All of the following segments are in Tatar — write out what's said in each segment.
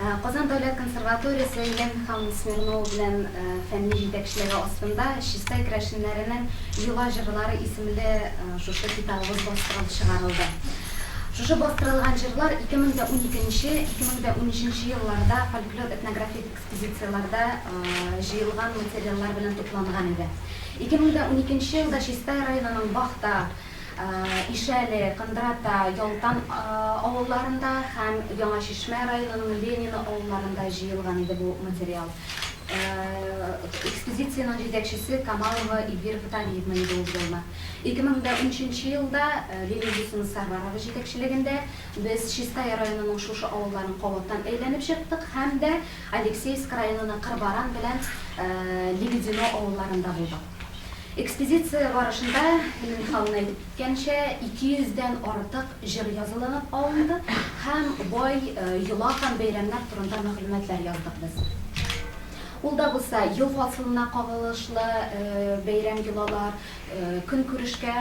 Казан дәүләт консерваториясе Елена Михайловна Смирнова белән фәнни җитәкчелеге астында Чистай керәшеннәренең йола җырлары исемле шушы китабыбыз бастырылып чыгарылды. Шушы бастырылган җырлар 2012 нче, 2013 нче елларда фольклор-этнографик экспозицияләрдә җыелган материаллар белән тупланган иде. 2012 нче елда Чистай районының Бахта, Ишәле, Кындрата, Ялтан авылларында һәм Яңа Чишмә районының Ленино авылларында җыелган иде бу материал. Экспедициянең җитәкчесе Камалова Ильвира Витальевна иде ул елны. 2013 нче елда Лилия Госинасарварова җитәкчелегендә без Чистая районының шушы авылларын кабаттан әйләнеп чыктык һәм дә Алексеевск районының Кырбаран белән Лебедино авылларында булдык. Экспедиция барышында, Ленин ханның әйтеп киткәнчә, 200 дән артык җыр язылынып алынды һәм бай йола һәм бәйрәмнәр турында мәгълүматлар яздык без. Ул да булса, ел фасылына кагылышлы бәйрәм йолалар, көнкүрешкә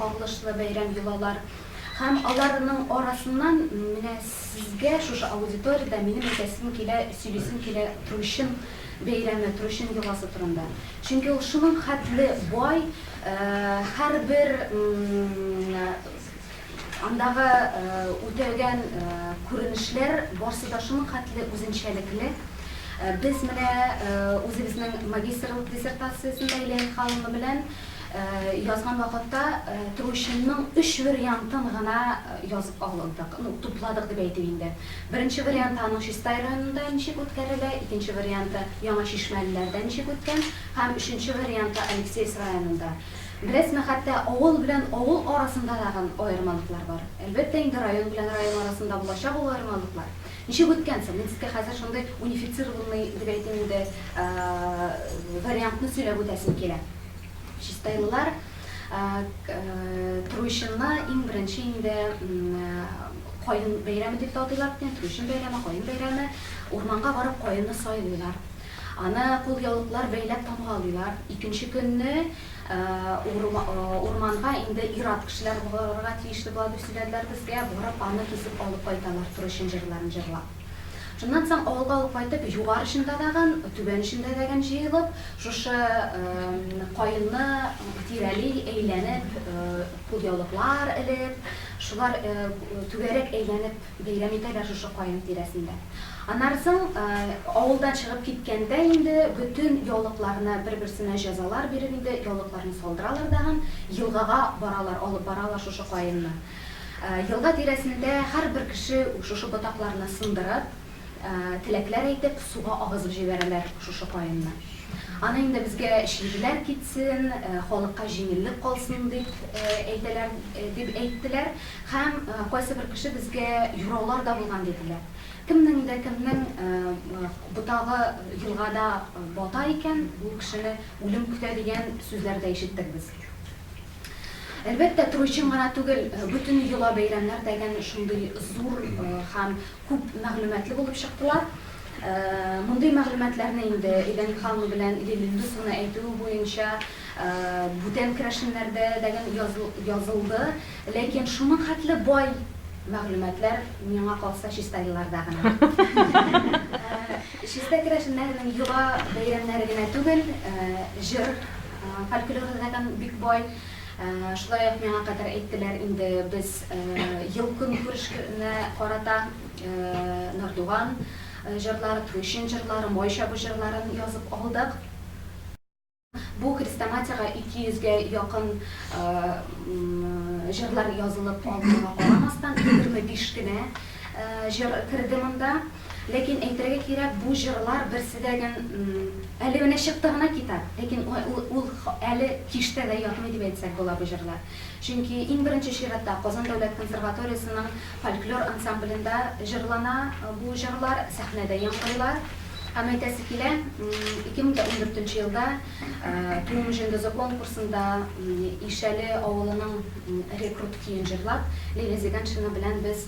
кагылышлы бәйрәм йолалар һәм аларның арасыннан менә сезгә шушы аудиториядә минем әйтәсем килә, сөйлисем килә Трущин бәйрәме, Трущин йоласы турында. Чөнки ул шуның хәтле бай, һәрбер андагы үтәлгән күренешләр барсы да шуның хәтле үзенчәлекле. Без менә үзебезнең магистрлык диссертациясен дә Илә Михайловна белән язган вакытта Трущинның өч вериантын гына язып алдык, ну, тупладык дип әйтим инде. Беренче варианты аның Чистай районында ничек үткәрелә, икенче варианты Яңа Чишмәлеләрдә ничек үткән һәм өченче варианты Алексеевск районында. Беләсезме, хәтта авыл белән авыл арасында тагын аермалыклар бар. Әлбәттә инде, район белән район арасында булачак ул аермалыклар. Ничек үткән соң? Мин сезгә хәзер шундый унифицированный, дип әйтим инде, вариантны сөйләп үтәсем килә. Чистайлылар Труйчынны иң беренче инде Каен бәйрәме дип тә атыйлар икән, Труйчын бәйрәме, Каен бәйрәме. Урманга барып каенны сайлыйлар. Аны кулъяулыклар бәйләп тамгалыйлар. Икенче көнне урманга инде ир-ат кешеләр барырга тиешле була дип сөйләделәр безгә. Барып аны кисеп алып кайталар, Труйчын җырларын җырлап. Шуннан соң авылга ул кайтып, югары эчендә дәгән, түбән эчендә дәгән җыелып, шушы каенны тирәли, әйләнеп, кулъяулыклар элеп, шулар түгәрәк әйләнеп бәйрәм итәләр шушы каен тирәсендә. Аннары соң авылдан чыгып киткәндә инде бөтен яулыкларны бер-берсенә җәзалар биреп инде яулыкларны салдыралар дәгән, елгага баралар, алып баралар шушы каенны. Елга тирәсендә һәрбер кеше шушы ботакларны сындырып, теләкләр әйтеп, суга агызып җибәрәләр шушы каенны. Аны инде безгә чирләр китсен, халыкка җиңеллек калсын дип әйтәләр, дип әйттеләр һәм кайсыбер кеше безгә юраулар да булган диделәр. Кемнең дә кемнең ботагы елгада бата икән, ул кешене үлем көтә дигән сүзләр дә ишеттек без. Әлбәттә, Трой чын гына түгел, бөтен йола бәйрәмнәр дә әнә шундый зур һәм күп мәгълүматлы булып чыктылар. Мондый мәгълүматларны инде Элен ханым белән Лилия Индусовна әйтүе буенча, бүтән керәшеннәрдә дә язылды, ләкин шуның хәтле бай мәгълүматлар, миңа калса, чиста елларда гына. Чиста керәшеннәрнең йола бәйрәмнәре генә түгел, җыр. Фольклоры закон бик бай. Шулай ук миңа кадәр әйттеләр инде, без ел-көнкүрешкне карата Нордуган җырлары, Туйчын җырлары, Май чабу җырларын язып алдык. Бу хрестоматиягә 200 гә якын җырлар язылып алганга карамастан, 25 кенә җыр керде монда. Ләкин әйтергә кирәк, бу җырлар берсе дә гән әле менә чыкты гына китап, ләкин ул әле киштә дә ятмый дип әйтсәк була бу җырлар. Чөнки иң беренче чиратта Казан дәүләт консерваториясенең фольклор ансамблендә җырлана бу җырлар, сәхнәдә яңгырлар. Һәм әйтәсе килә, 2014 елда Туым җендызы конкурсында Ишәле авылының рекрут көен җырлап, Лилия Зиганшина белән без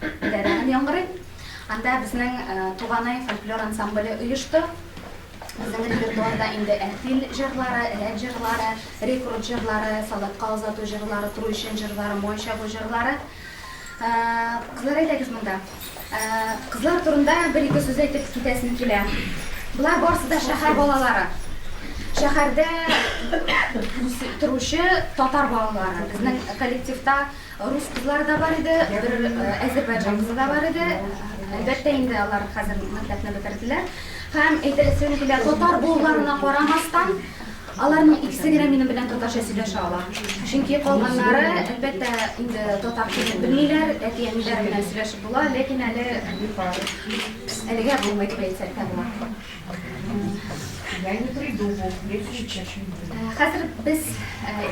Дәрәгын яңгырый. Анда безнең Туганай фольклор ансамбле оешты. Безнең репертуарда инде Әлфил җырлары, Рәт җырлары, Рекрут җырлары, Солдатка озату җырлары, Труйчын җырлары, Май чабу җырлары. Кызлар әйдәгез монда. Кызлар турында бер-ике сүз әйтеп китәсем килә. Болар барысы да шәһәр балалары. Шәһәрдә торучы татар балалары. Безнең коллективта Рус кызлары да бар иде, бер әзербайҗан кызы да бар иде. Әлбәттә инде, алар хәзер мәктәпне бетерделәр. Һәм әйтәсем килә, татар булуларына карамастан, аларның икесе генә минем белән татарча сөйләшә ала. Чөнки калганнары, әлбәттә, инде татар телен белмиләр, әти-әниләре белән сөйләшеп була, ләкин әле, әлегә булмый дип әйтсәк тә була. Хәзер без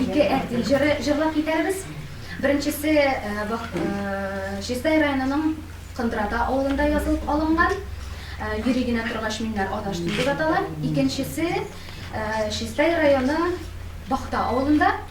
ике әртил җыры җырлап китәрбез. Беренчесе Чистай районының Кындрата авылында язылып алынган. Йөри генә торгач миннәр адаштым дип атала. Икенчесе Чистай районы Бахта авылында.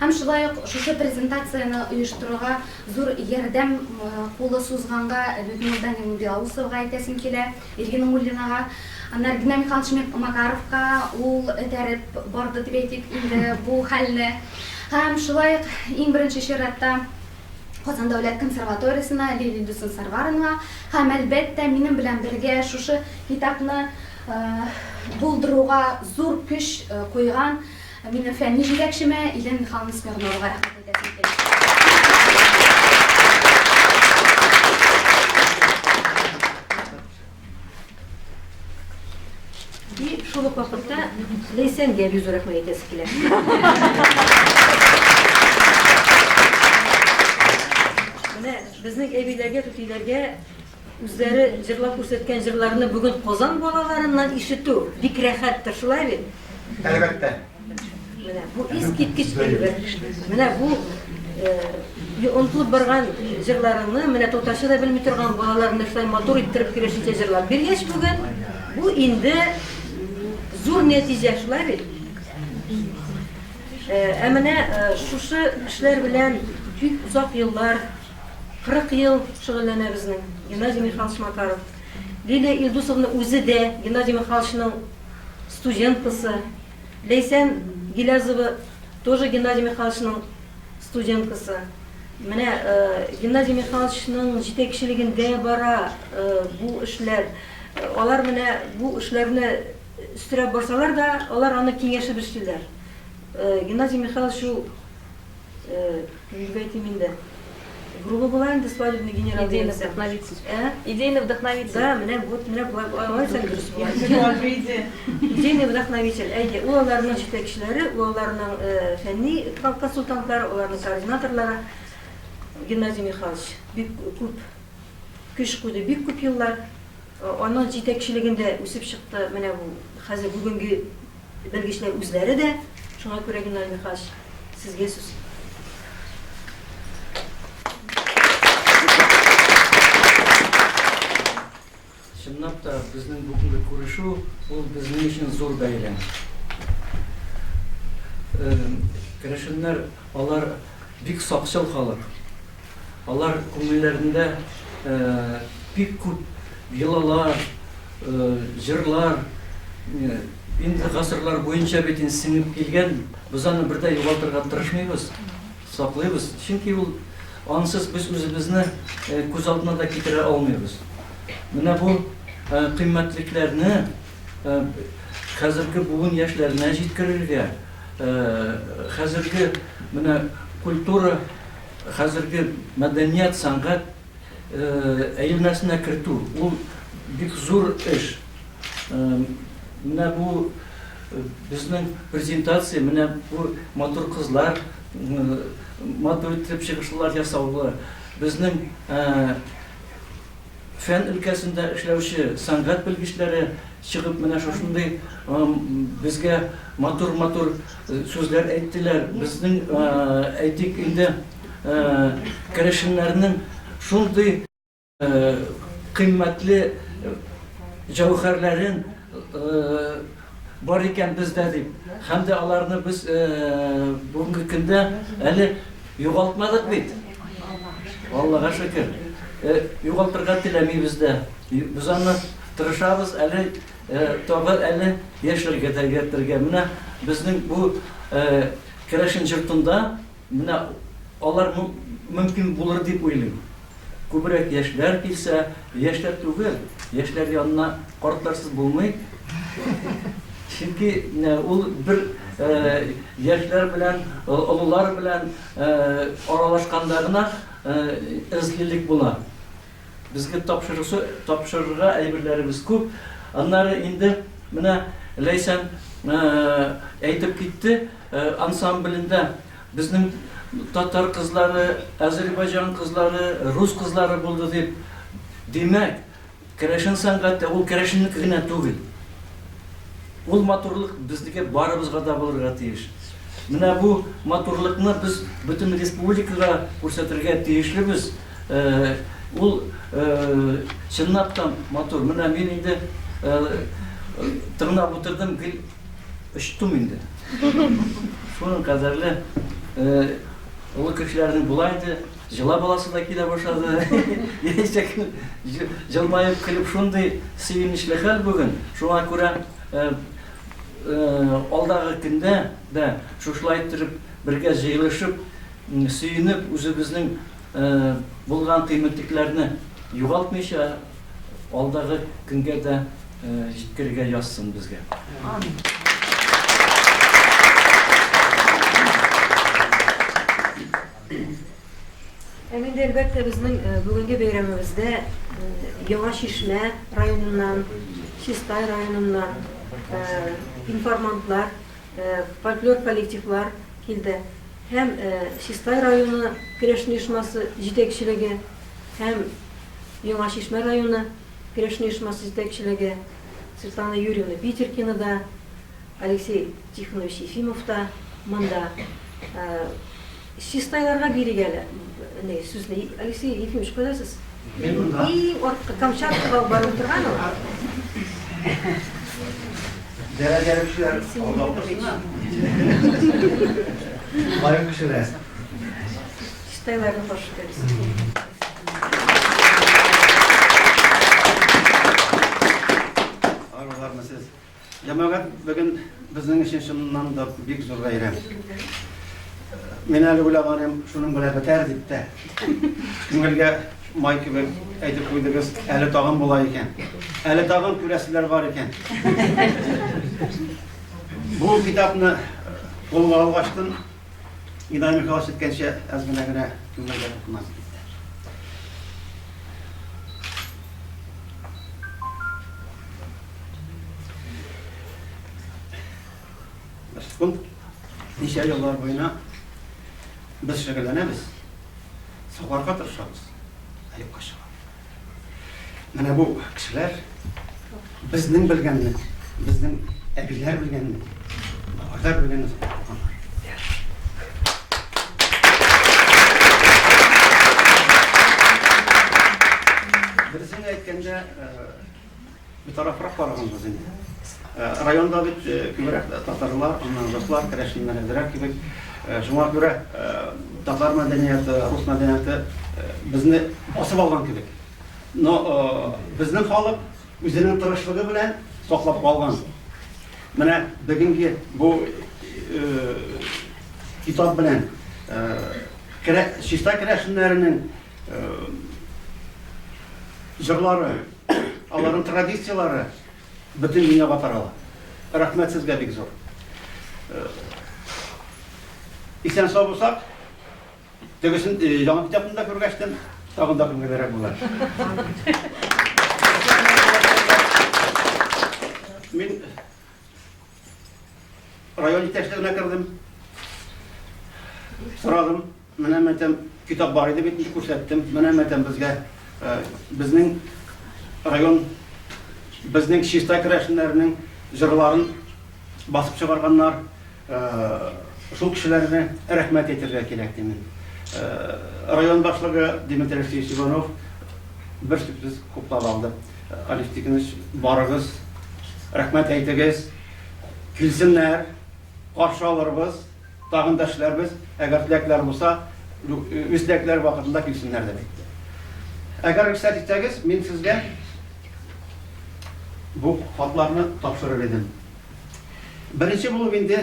Һәм шулай ук шушы презентацияне оештыруга зур ярдәм кулы сузганга Людмилда Минбяусовага әйтәсем килә, Ирина Нуруллинага. Аннары Геннадий Михайлович Макаровка, ул этәреп барды дип әйтик инде бу хәлне. Һәм шулай ук иң беренче чиратта Казан дәүләт консерваториясенә Лилия Дюсен-Сарваренга һәм, әлбәттә, минем белән бергә шушы китапны булдыруга зур көч куйган Ә минем фәнни җитәкчемә Илен Михайловна Смирновага рәхмәт әйтәсем килә. И шул ук вакытта Ләйсәнгә бик зур рәхмәт әйтәсе килә. Безнең әбиләргә, түтиләргә Үзләре җырлап күрсәткән җырларны бүген Казан балаларыннан ишетү бик рәхәттер, шулай бит? Әлбәттә. Менә бу искиткеч әйбер. Менә бу онтылып барган җырларыңны менә татарча да белми торган балалар менә шулай матур иттереп килешенчә җырлап биргәч бүген бу инде зур нәтиҗә шулай бит ә менә шушы эшләр белән бик озак еллар 40 ел шөгыльләнә безнең Геннадий Михайлович Макаров. Лилия Илдусовна үзе дә Геннадий Михайловичның студенткасы. Ләйсән Гилязова тоже Геннадий Михайловичның студенткасы. Менә Геннадий Михайловичның җитәкчелегендә бара бу эшләр. Алар менә бу эшләрне өстерәп барсалар да, алар аны киңәшеп эшлиләр. Геннадий Михайлович ул Нигә әйтим инде. Грубо була инде свадебный генерал дигәнсең. Идейный вдохновитель. Ә? Идейный вдохновитель. Да, менә вот менә болай алай исән дөрес була. Идейный вдохновитель. Әйе, ул аларның җитәкчеләре, ул аларның фәнни консультантлары, аларның координаторлары. Геннадий Михайлович бик күп көч куйды, бик күп еллар. Аның җитәкчелегендә үсеп чыкты менә бу хәзер бүгенге Белгечләр үзләре дә. Шуңа күрә Геннадий Михайлович, сезгә сүз. Чынлап та, безнең бүгенге күрешү, ул безнең өчен зур бәйрәм. Керәшеннәр, алар бик сакчыл халык. Алар күңелләрендә бик күп йолалар, җырлар, инде гасырлар буенча бит инде сеңеп килгән, без аны бер дә югалтырга тырышмыйбыз, саклыйбыз, чөнки ул, ансыз без үзебезне күз алдына да китерә алмыйбыз. Менә бу кыйммәтлекләрне хәзерге буын яшьләренә җиткерергә, хәзерге менә культура Хәзерге мәдәният, сәнгать әелмәсенә кертү, ул бик зур эш. Менә бу безнең презентация, менә бу матур кызлар, матур итеп чыгышлар ясаулы, безнең Фән өлкәсендә эшләүче сәнгать белгечләре чыгып менә шушындый безгә матур-матур сүзләр әйттеләр. Безнең, әйтик инде, керәшеннәрнең шундый кыйммәтле җәүһәрләрен Бар икән бездә дип, һәм дә аларны без бүгенге көндә әле югалтмадык бит. Аллага шөкер. Югалтырга теләмибез дә. Без аны тырышабыз әле тагы әле яшәргә дә йөртергә. Менә безнең бу керәшен җортында Менә алар мөмкин булыр дип уйлыйм. Күбрәк яшьләр килсә, яшьләр түгел, яшьләр янына картларсыз булмый. Чөнки ул бер яшьләр белән, олылар белән аралашканда гына эзлилек була. Безгә тапшырырга әйберләребез күп. Аннары инде менә Ләйсән әйтеп китте. Ансамблендә безнең татар кызлары, азербайҗан кызлары, рус кызлары булды дип, димәк, керәшен сәнгате ул керәшеннеке генә түгел. Ул матурлык безнеке барыбызга да булырга тиеш. Менә бу матурлыкны без бөтен республикага күрсәтергә тиешлебез. Ул чынлап та матур. Менә мин инде тыңлап утырдым, гел. Очтым инде. Шуның кадәрле олы кешеләрнең була инде, җыла баласы да килә башлады. Яисә җылмаеп көлеп шундый сөенечле хәл бүген. Шуңа күрә алдагы көндә дә шушылай иттереп бергә җыелышып, сөенеп, үзебезнең булган кыйммәтләрне югалтмыйча, Алдагы көнгә дә җиткерергә язсын безгә. Амин. Һәм инде әлбәттә безнең бүгенге бәйрәмебездә Яңа Чишмә районыннан, Чистай районыннан информантлар, фольклор коллективлар килде. Һәм Чистай районы көрәш оешмасы җитәкчелеге һәм Яңа Чишмә районы керәшен оешмасы җитәкчелеге Светлана Юрьевна Питеркина да, Алексей Тихонович Ефимов та монда. Чистайларга бирик әле ни сүзне. Алексей Ефимович, кайда сез? Мин монда. Иң арткы Камчаткага барып торган ул. Дәрә дәрүчеләр алда укысыннар. Лаек кешеләр. Стеллага прошу перейти. Җәмәгать бүген безнең өчен чыннан да бик зур бәйрәм. Мин әле уйлаганым, шуның белән бетәр дип тә. Күңелгә май кебек әйтеп куйдыгыз, әле тагын була икән. Әле тагын күрәселәр бар икән. Бу китапны кулга алгачтын Идаемый хәлас иткәнчә әз генә генә түңәргә тотынасы китте. Башкун ничә еллар буена без шөгыльләнәбез, сакларга тырышабыз, әле кача. Менә бу кешеләр безнең белгәнне, безнең әбиләр белгәнне, бабайлар белгәнне укыганнар. Берсен әйткәндә, Битарафрак карагансыз инде. Районда бит күбрәк татарлар, аннан руслар, керәшеннәр әзрәк кебек. Шуңа күрә татар мәдәнияте, рус мәдәнияте безне басып алган кебек. Но безнең халык үзенең тырышлыгы белән саклап калган. Менә бүгенге бу китап белән чиста керәшеннәренең җырлары Аларның традицияләре бөтен дөньяга тарала. Рәхмәт сезгә бик зур. Э, исән сау булсак, тегесен э, яңа китапны да күргәчтем, тагын да күңеллерәк була. Мин Район итәчлегенә кердем. Сорадым, менә мәтәм китап бар иде бит, күрсәттем. Менә мәтәм безгә э, безнең район безнең чиста керәшеннәрнең җырларын басып чыгарганнар. Э, шул кешеләрне рәхмәт әйтергә кирәк димен. Э, район башлыгы Дмитрий Алексеевич Иванов бер сүзсез хуплап алды. Алиф Тиктыныч барыгыз рәхмәт әйтегез, килсеннәр, каршы алырбыз, тагын да эшләрбез, әгәр теләкләре булса, үз теләкләре вакытында килсеннәр дип әйтте. Әгәр рөхсәт итсәгез, мин сезгә бу хатларны тапшырыр идем. Беренче булып инде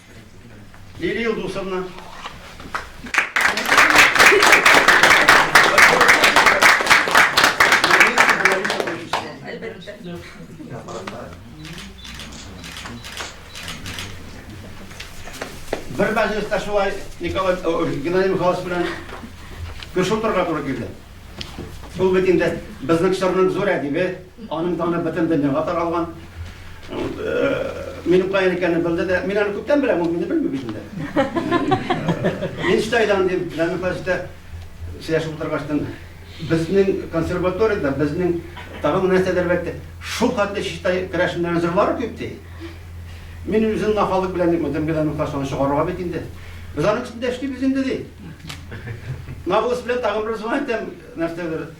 Лилия Илдусовна. Бер мәҗлестә шулай Николай Геннадий Михайлович белән күрше утырырга туры килде. Ул бит инде безнең чорның зур әдибе, Аның даны бөтен дөньяга таралган. Ул минем каян икәнне белде дә, мин аны күптән беләм, ул мине белми бит инде. Мин штайдан дип, Җәмил Хаҗитә сөйләшеп утыргачтан, безнең консерваториядә, безнең тагын нәрсәдер бәлки, шул хәтле чиштай керәшеннәр җырлары күп ди. Мин үзем нахалык белән дип, Җәмил Җәмил Хаҗитаны чыгарырга бит инде. Без аның өстендә эшлибез инде ди. Навгус белән тагын бер звонок нәрсәдер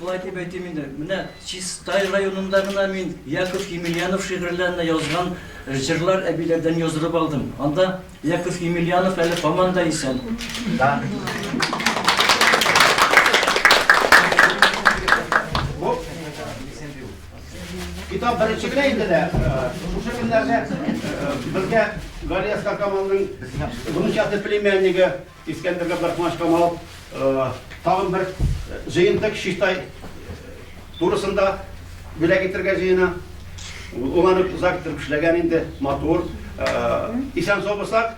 Болай дип әйтим инде, менә Чистай районында гына мин Яков Емельянов шигырьләренә язган җырлар әбиләрдән яздырып алдым. Анда Яков Емельянов әле һаман да исән. Да. Китап беренче генә инде дә. Шушы көннәрдә безгә Галия Скакамалның внучаты племяннигы Искәндер Габдрахманович Камал тагын бер җыентык Чистай турысында бүләк итәргә җыена. Ул аны озак итеп эшләгән инде, матур. Исән сау булсак,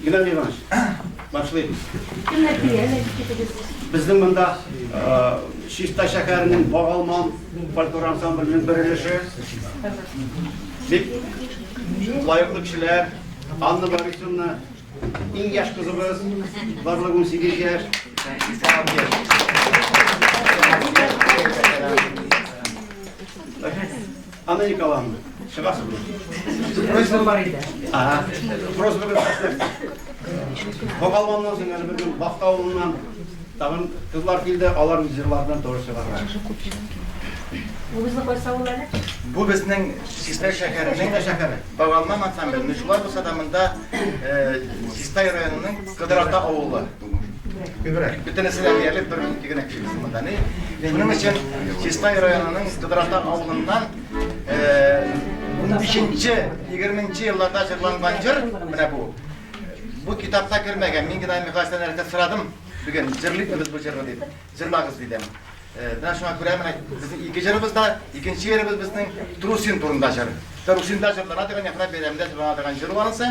Геннадий Иванович, башлыйм. Безнең монда Чиста шәһәренең Багалман фольклор ансамбленең бер өлеше. Бик лаеклы кешеләр, Анна Борисовна, иң яшь кызыбыз, барлыгы 18 яшь. Thank you. Америкалан чыгасыз. Просьба бар иде. Ага. Просьба бирсәм. Бакалманнан соң әле бер Бакта авылыннан тагын кызлар килде, алар җырлардан тоже чыгарга. Бу безнең кайсы авыл әле? Бу безнең Чистай шәһәренең дә шәһәре. Бакалман ансамбле. Шулай булса да монда Чистай районының Кыдырата авылы. Күбрәк. Бөтенесе дә диярлек бер минут генә кешебез монда. Ни? Шуның өчен Чистай районының Кыдрата авылыннан 15-нче, 20-нче елларда җырланган җыр менә бу. Бу китапка кермәгән. Мин генә Михаилдан рәхмәт сорадым. Бүген җырлыйбыз бу җырны дип. Җырлагыз дидем. Менә шуңа күрә менә безнең ике җырыбыз да, икенче җырыбыз безнең Трусин турында җыр. Трусинда җырлана дигән яхрак бәйрәмдә җырлана дигән җыр ванысы.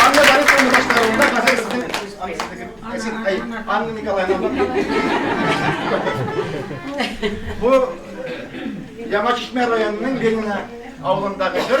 Анна Борисовна башкаруында хәзер сезнең Анна Николаевна. Бу Яңа Чишмә районының Ленина авылындагы бер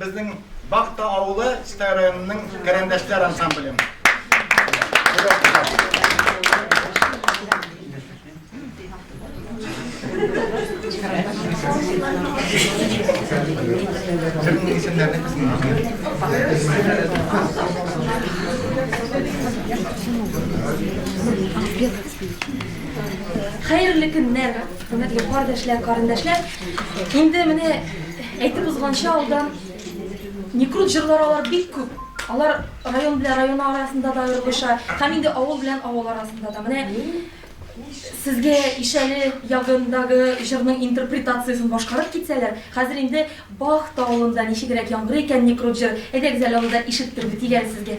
Безнең Бахта авылы Чистай районының Кәрәндәшләр ансамбле. Хәерле көннәр, хөрмәтле кардәшләр, карендәшләр. Инде менә Әйтеп узганча, алда Некрут җырлары алар бик күп. Алар район белән район арасында да аерылыша, һәм инде авыл белән авыл арасында да. Менә сезгә ишәле ягындагы җырның интерпретациясен башкарып китсәләр, хәзер инде Бах тавылында ничегрәк яңгырый икән Некрут җыр. Әйдәгез әле аны да ишеттерик, дигән сезгә.